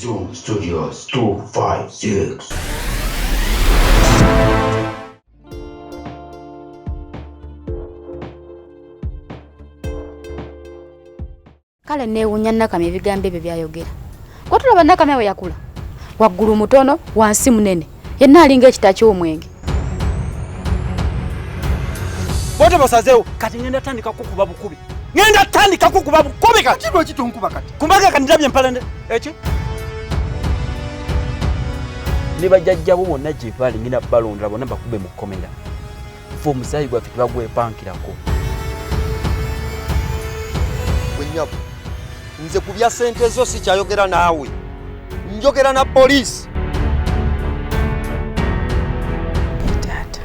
Zoom Studios 256. kale neewunya nakamya ebigambo ebyo byayogera gwatulaba nakamya bwe yakula waggulu mutono wansi munene yenna alinga ekita ky'omwenge bote basazeewo kati ngenda tandika kukuba bukubi ngenda tandika kukuba bukubi kati lwaki tonkuba kati kumbaga kandilabye empalande eki ne bajajjabo bonna gye baali ngenda balondera bonna bakube mu kkomera ffe omusaayi gwaffe tebagwepankirako gwenyabo nze ku bya sente zo sikyayogera naawe njogera na poliisi taata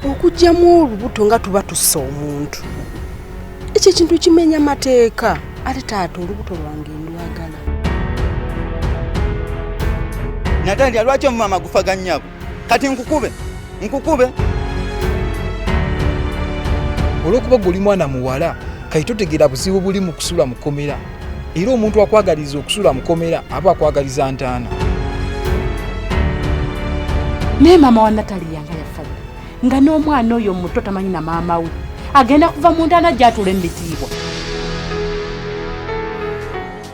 okugyamu olubuto nga tuba tussa omuntu ekyo ekintu kimenya mateeka ate taata olubuto lwange ndwagala natandika lwaki omumama gufaga nyabo kati nkukube nkukube olwokuba gwe oli mwana muwala kati totegeera buzibu buli mu kusula mukomera era omuntu akwagaliza okusula mukomera aba akwagaliza ntaana naye maama wa natali yanga yafa nga n'omwana oyo muto tamanyi na maama we agenda kuva mu ntaana gyatula emitiibwa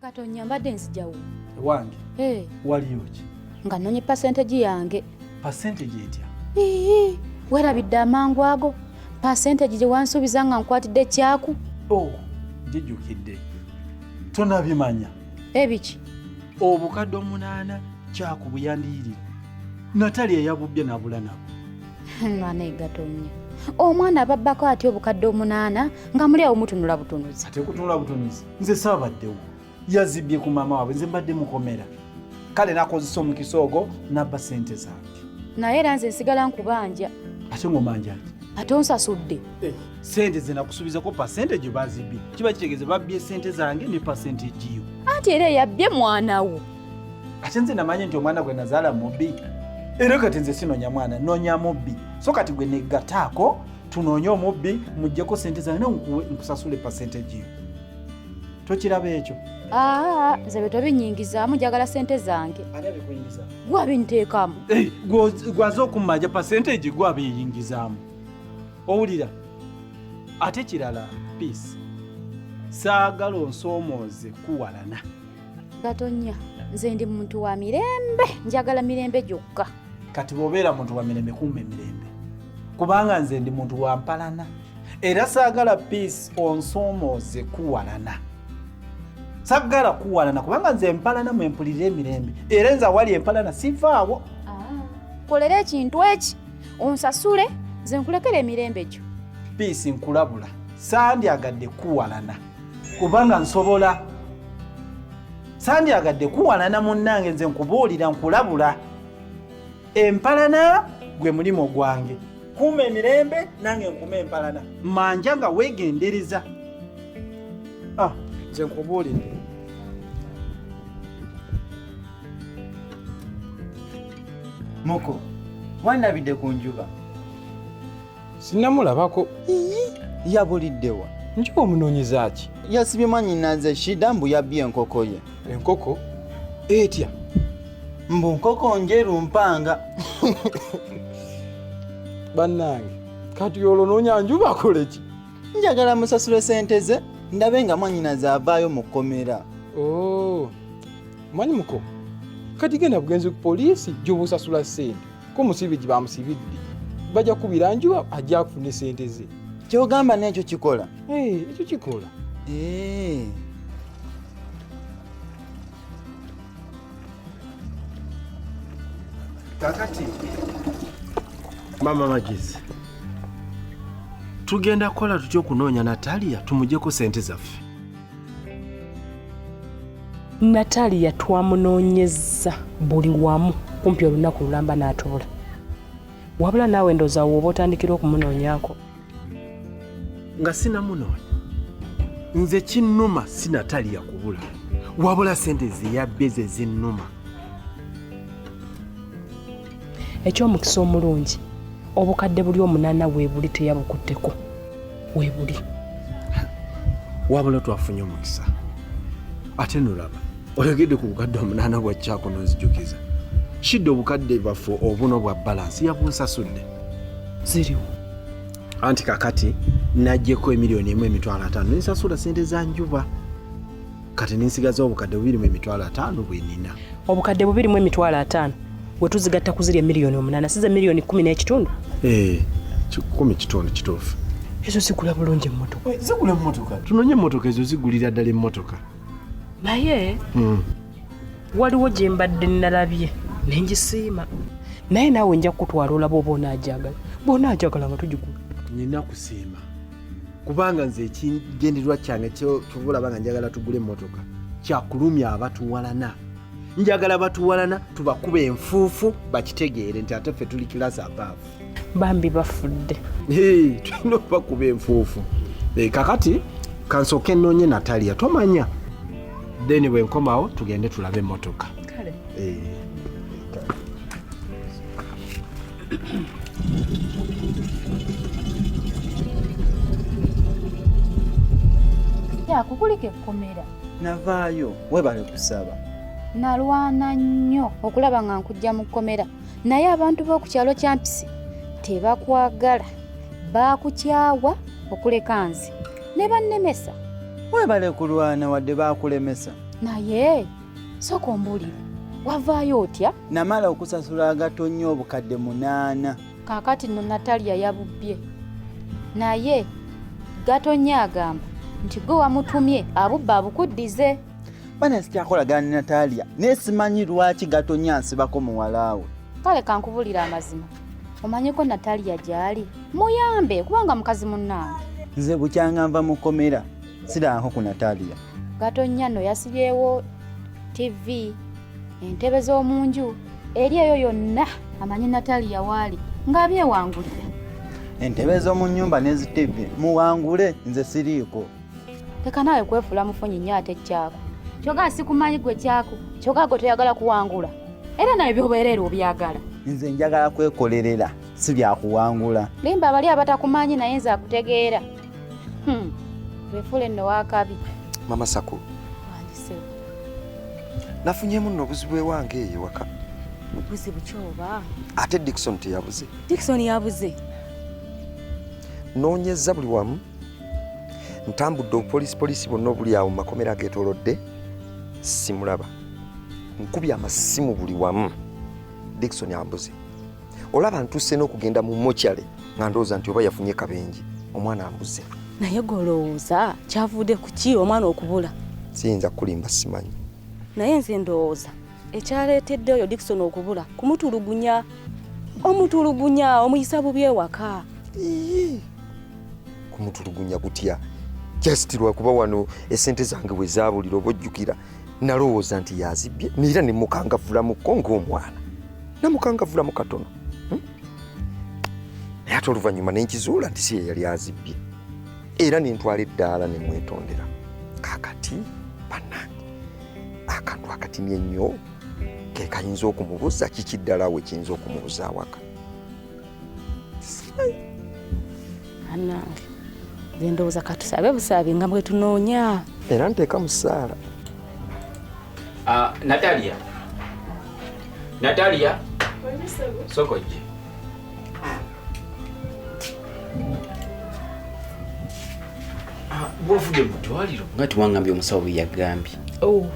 Katonya mbadde nzijawo. Ewange. Eh. Hey. Waliyo ki? Nga nonye percentage yange. Percentage etya? Ee. Werabidde amangu ago. Percentage gye wansuubiza nga nkwatidde kyaku. Oh, jijukidde. Tonabimanya. Ebiki? Obukadde omunaana kyaku buyandiyirira. Natali eyabubbye nabula nabo. Mwana egatonya. Omwana ababbako atya obukadde omunaana nga muli awo mutunula butunuzi. Ate kutunula butunuzi. nze saabaddewo yazibbye ku maama waabwe nze mbadde mukomera kale nakozesa omukisa ogwo nabba sente zange naye era nze nsigala nkubanja ate ngomanja ki ate onsasudde eh. sente ze nakusubizako pasente gyo bazibbye kiba kitegeeza babbye sente zange ne pasente egiyo anti era eyabbye mwana wo ate nze namanyi nti omwana gwe nazaala mubbi era kati nze sinonya mwana nonya mubbi so kati gwe negataako tunoonye omubbi mujjeko sente zange nawe nkusasule percentage yo tokiraba ekyo ah, nze bye tobinyingizaamu njagala sente zange gwe abinteekamu eh, gwaze okummanja percentage gwe abiyingizaamu owulira ate kirala peace saagala onsoomooze kuwalana gatonya nze ndi muntu wa mirembe njagala mirembe gyokka kati bwobeera muntu wamirembe kumba emirembe kubanga nze ndi muntu wampalana era saagala peace onsoomooze kuwalana saggala kuwalana kubanga nze empalana mwempulira emirembe era nze awali empalana sivaawo ah, kolera ekintu eki onsasule nze nkulekera emirembe gyo piisi nkulabula sandyagadde kuwalana kubanga nsobola sandyagadde kuwalana munnange nze nkubuulira nkulabula empalana gwe mulimu gwange kuuma emirembe nange nkuuma empalana manja nga weegendereza ah, nze nkubuulire muko wanabidde ku njuba Sinamulabako. Iyi yabuliddewa. Njuba omunoonyeza ki? Yasibye mwannyinaze Shida mbu yabbye enkoko ye. Enkoko etya? Mbu nkoko njeru mpanga. Bannange kati olwo noonya njuba akole ki? Njagala musasule sente ze ndabe nga mwannyinaze avaayo mu kkomera. Oh. Mwanyi muko kati genda bugenzi ku poliisi gy'obusasula ssente. ko musibiji bamusibidde baja kubira njuba ajja kufuna sente ze kyogamba nekyo kikola eh, ekyo kikola eh. kakati mama magezi tugenda kukola tutya okunoonya natalia tumujeko sente zaffe Natalia twamunoonyezza buli wamu kumpi olunaku lulamba n'atubula. Wabula naawe ndowooza wooba otandikira okumunoonyako. Nga sinamunoonya nze kinnuma si Natalia kubula wabula sente ze yabbe ze zinnuma. eky'omukisa omulungi obukadde buli omunaana weebuli teyabukutteko weebuli wabula twafunye omukisa ate nolaba oyogedde ku bukadde omunaana bwa kyako nonzijukiza kidde obukadde bwaffe obuno bwa balansi yabunsasudde ziriwo anti kakati najjeko emiliyoni emu emitwalo ataano nensasula sente za njuba kati ninsigaza obukadde bubiri mu emitwalo ataano bwe nina obukadde bubiri mu emitwalo ataano we tuzigatta ku ziri emiliyoni omunaana size miliyoni kumi n'ekitundu eh, kikumi kitundu kituufu ezo zigula bulungi emmotoka eh, zigula emmotoka tunonye emmotoka ezo zigulira ddala emmotoka naye hmm. waliwo gye mbadde nalabye nengisiima naye naawe nja kukutwala olaba oba onaajagala bwonaajagala nga tugigula nina kusiima kubanga nze ekigendererwa kyange kyova olaba nga njagala tugule emmotoka kyakulumya abatuwalana njagala batuwalana tubakuba enfuufu bakitegeere nti ate ffe tuli kilasi abaavu bambi bafudde tulina okubakuba enfuufu eh, kakati kansooka enoonye nataliya tomanya then bwenkomawo tugende tulabe emmotoka yakukulika ekkomera navaayo webale kusaba nalwana nnyo okulaba nga nkujja mu kkomera naye abantu b'oku kyalo kyampisi tebakwagala baakukyawa okuleka nze ne bannemesa webale kulwana wadde baakulemesa naye Sooka ombuulire wavaayo otya? Namala okusasula agato nnyo obukadde munaana. Kaakati nno Natalia yabubbye naye Gatonnya agamba nti gwe wamutumye abubba abukuddize. Bana sikyakolagana ne Natalia naye simanyi lwaki Gatonnya ansibako muwalaawe. Kale kankubulira amazima omanyiko Natalia gy'ali muyambe kubanga mukazi munnange. Nze bukyanga nva mu kkomera sidanko ku natalia gatonnya no yasibyewo tv entebe z'omu nju eri eyo yonna amanyi natalia waali ng'abyewangulira entebe z'omu nnyumba n'ezitibbi muwangule nze siriiko leka naawe kwefuula mufunyi nnyo ate kyako kyoga sikumanyi gwe kyako kyoga gwe toyagala kuwangula era naye byobeereera obyagala nze njagala kwekolerera si byakuwangula limba abali abatakumanyi naye nze akutegeera Hmm. Wefule no wakabi. Mama Sako. Wandise. Nafunyemu no buzibu ewange eyo waka. Buzibu kyoba. Ate Dickson teyabuze. Dickson yabuze. Nonyeza buli wamu. Ntambudde obupolisi polisi bonna obuli awo mu makomera ageetoolodde simulaba. Nkubye amasimu buli wamu. Dickson ambuze. olaba ntuuse n'okugenda mu mochale nga ndowooza nti oba yafunye kabenje omwana ambuze naye golowooza kyavude kuki omwana okubula siyinza kukulimba simanyi naye nze ndowooza ekyaleetedde oyo dikson okubula kumutulugunya omutulugunya omuyisa bubi ewaka kumutulugunya kutya just lwakuba wano esente zange bwe zaabulira oba ojjukira nalowooza nti yazibbye neera ne mukangavulamuko ng'omwana namukangavulamu katono hmm? naye ate oluvannyuma ne nkizuula nti si ye yali azibbye era ne ntwala eddaala ne mwetondera kakati bannange akantu akatini ennyo ke kayinza okumubuza kiki ddala we kiyinza okumubuza awaka anange nze ndowooza katusabe busaabi nga bwetunoonya era nteeka mu ssaala ah, natalia natalia sokojje ah, bwovudde mu ddwaliro nga tiwangambye omusawo bwe yagambye oh,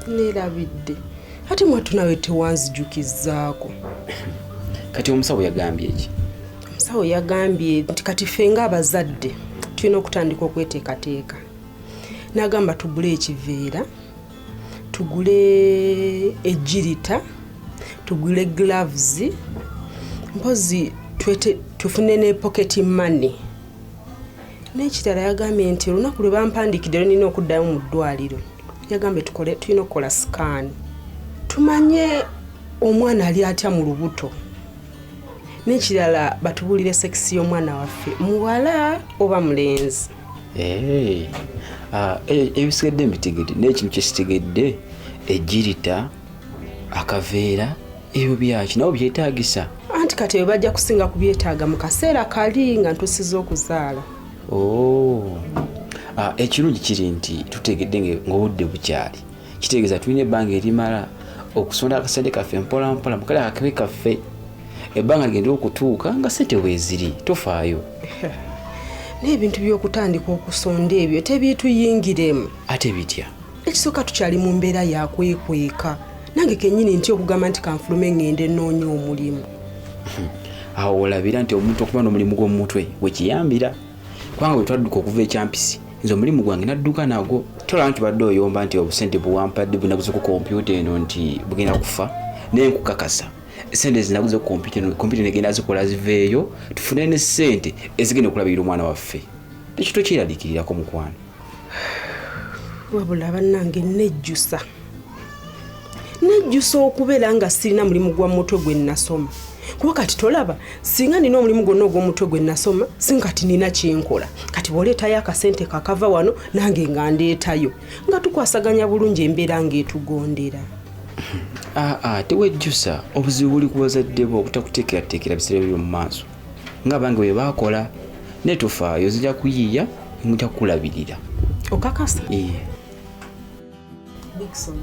neerabidde ate mwatu nawe tewanzijukizaako kati omusawo yagambye eki omusawo yagambye nti kati ffe nga abazadde tulina okutandika okweteekateeka nagamba tugule ekiveera tugule ejirita tugule gloves mpozi tufune ne pocket money n'ekirala yagambye nti olunaku lwe bampandikidde lwenina okuddayo mu ddwaliro yagambye tukole tulina okukola sikaani tumanye omwana ali atya mu lubuto n'ekirala batubuulire sekisi y'omwana waffe muwala oba mulenzi eh, ah, e, ebisigadde mbitegedde naye kino kyesitegedde ejirita akaveera ebyo byaki nabo byetagisa anti kati ebyo bajja kusinga kubyetaaga mu kaseera kali nga ntusiza okuzaala oh. ah, ekirungi kiri nti tutegedde ngaobudde bukyali kitegeeza tulina ebbanga erimala okusonda akasente kaffe mpolampola mukale akakibe kaffe ebbanga ligenda okutuuka nga sente weeziri tofaayo n'ebintu by'okutandika okusonda ebyo tebyituyingiremu ate bitya ekisooka tukyali mu mbeera yakwekweka nange kenyini nti okugamba nti kanfulume ngende enoonya omulimu awo olabira nti omuntu okuba n'omulimu gw'omumutwe wekiyambira kubanga bwe twadduka okuva ekyampisi nze omulimu gwange nadduka nagwo tolaba nti badde oyomba nti obusente buwampadde bunaguze ku kompyuta eno nti bugenda kufa naye nkukakasa sente zinaguze kompyuta negenda zikola ziveeyo tufune ne sente ezigenda okulabirira omwana waffe ekyo tokyeraliikirirako mukwano wabula bannange nejjusa nejjusa okubeera nga sirina mulimu gwa mutwe gwe nasoma kuba kati tolaba singa nina omulimu gwonna ogw'omutwe gwe nasoma singa kati nina kyenkola kati bwoleetayo akasente kakava wano nange nga ndeetayo nga tukwasaganya bulungi embeera ng'etugondera aa tewejjusa obuzibu buli ku bazadde bo obutakuteekerateekera biseera byo mu maaso nga bange bwe baakola naye tofaayo zija kuyiiya muja kukulabirira okakasa iye bikson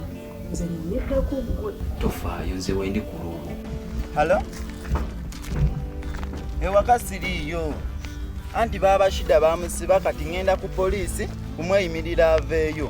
nze nyeddako gwe tofaayo nze wendi ku luubu halo ewaka siriiyo anti baaba shida bamusiba kati ŋenda ku poliisi kumweyimirira aveeyo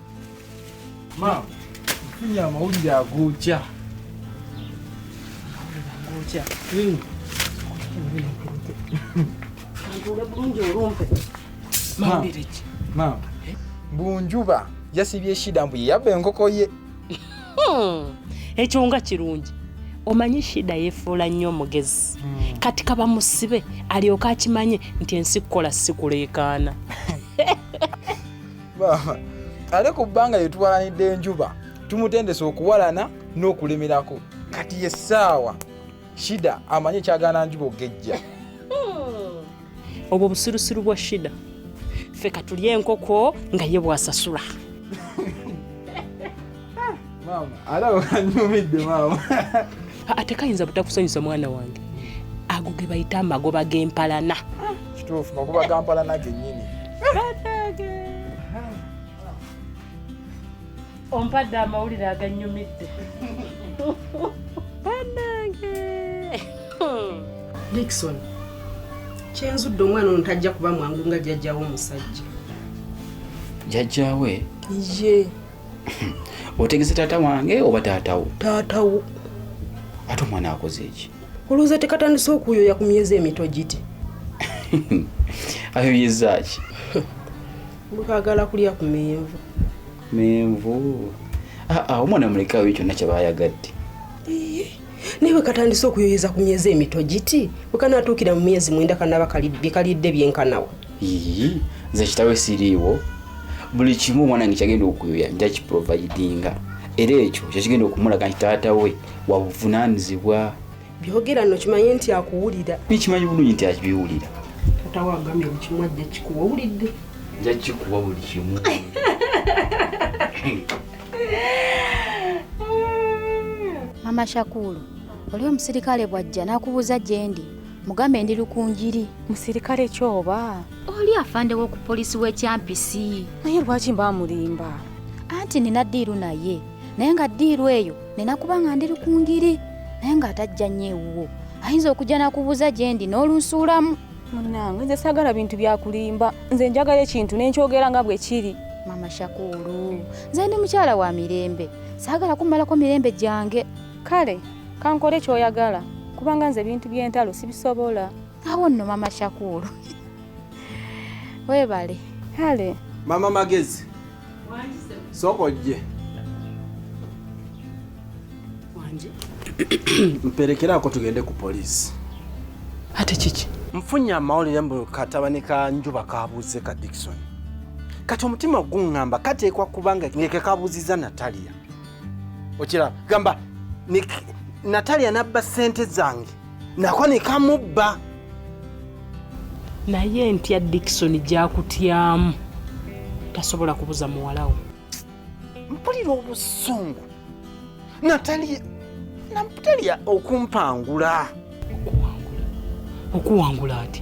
Maama, nfunye amawulire agookya. Agookya? Hmm. Ntuule bulungi olumpe. Mawulire ki? Maama, Bunjuba yasibye Shida mbu ye yabba enkoko ye. Hmm. Ekyo nga kirungi. Omanyi Shida yefuula nnyo omugezi. Hmm. Kati kaba musibe alyoke akimanye nti ensi kukola si kuleekaana. baaba ale ku bbanga lye tuwalanidde enjuba tumutendesa okuwalana n'okulemerako kati ye ssaawa shida amanye ekyagaana njuba ogejja hmm. obwo busirusiru bwa shida ffe katulye enkoko nga ye bwasasula atekayinza butakusanyusa mwana wange ago ge bayita amagoba g'empalana kituufu magoba ga mpalana gennyini ompadde amawulire aganyumidde banange dikson kyenzudde omwana ono tajja kuba mwangu nga jjajjawe omusajja jjajjawe ye otegese taata wange oba taatawo taatawo ate omwana akoze eki olowooza tekatandise okuyoya ku myezi emito giti ayoyeza ki bukagala kulya ku menvu menvu aa ah, ah, omwana mulekawo kyonna kyaba ayagadde naye wekatandise okuyoyeza ku myezi emito giti wekanatuukira mu myezi mwenda kanaba kalidde byenkanawa ii nze kitawe siriiwo buli kimu omwana nge kyagenda okuyoya nja kiprovidinga era ekyo kyekigenda okumulaga nti taata we wabuvunanizibwa byogera no kimanye nti akuwulira nikimanyi bulungi nti akibiwulira taata we agambye buli kimu ajja kikuwa owulidde nja kikuwa buli kimu Mama Shakulu, oli omusirikale bwajja nakubuuza gyendi mugambe ndi lukunjiri. Musirikale ki oba? Oli afande w'oku poliisi w'ekyampisi. Naye lwaki mba mulimba? Anti nina ddiiru naye naye nga ddiiru eyo nina kuba nga ndi lukunjiri naye ng'atajja nnyo ewuwo ayinza okujja nakubuuza gyendi n'olunsuulamu. munange nze sagala bintu byakulimba nze njagala ekintu nenkyogera nga bwekiri mama shakulu nze ndi mukyala wa mirembe sagala kumalako mirembe gyange kale kankole kyoyagala kubanga nze ebintu byentalo sibisobola awo nno mama shakulu webale kale mama magezi Soko ojje. Wanje. Mpelekera ako tugende ku police. Ate kiki? Mfunye amawulire mbu katabani ka njuba kabuuze ka Dickson. Kati omutima guŋŋamba kateekwa kuba nga ngeke kabuuzizza Natalia. Okiraba gamba Natalia n'abba ssente zange nako ne kamubba naye ntya dikisoni gyakutyamu tasobola kubuza muwalawo mpulira obusungu natali natalya okumpangula okuwangula ati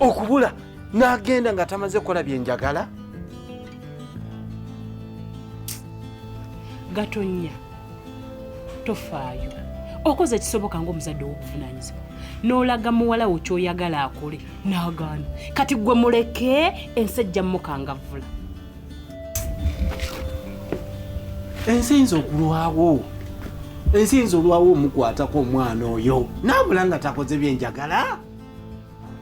okubula n'agenda nga tamaze kukola byenjagala gatonya tofaayo okoze ekisoboka ngaomuzadde owokuvunanyizibwa nolaga muwala wo kyoyagala akole nagaana kati gwe muleke ensi ejja mukangavvula ensi eyinza okulwawo ensi eyinza olwawo omukwatako omwana oyo nabula nga takoze byenjagala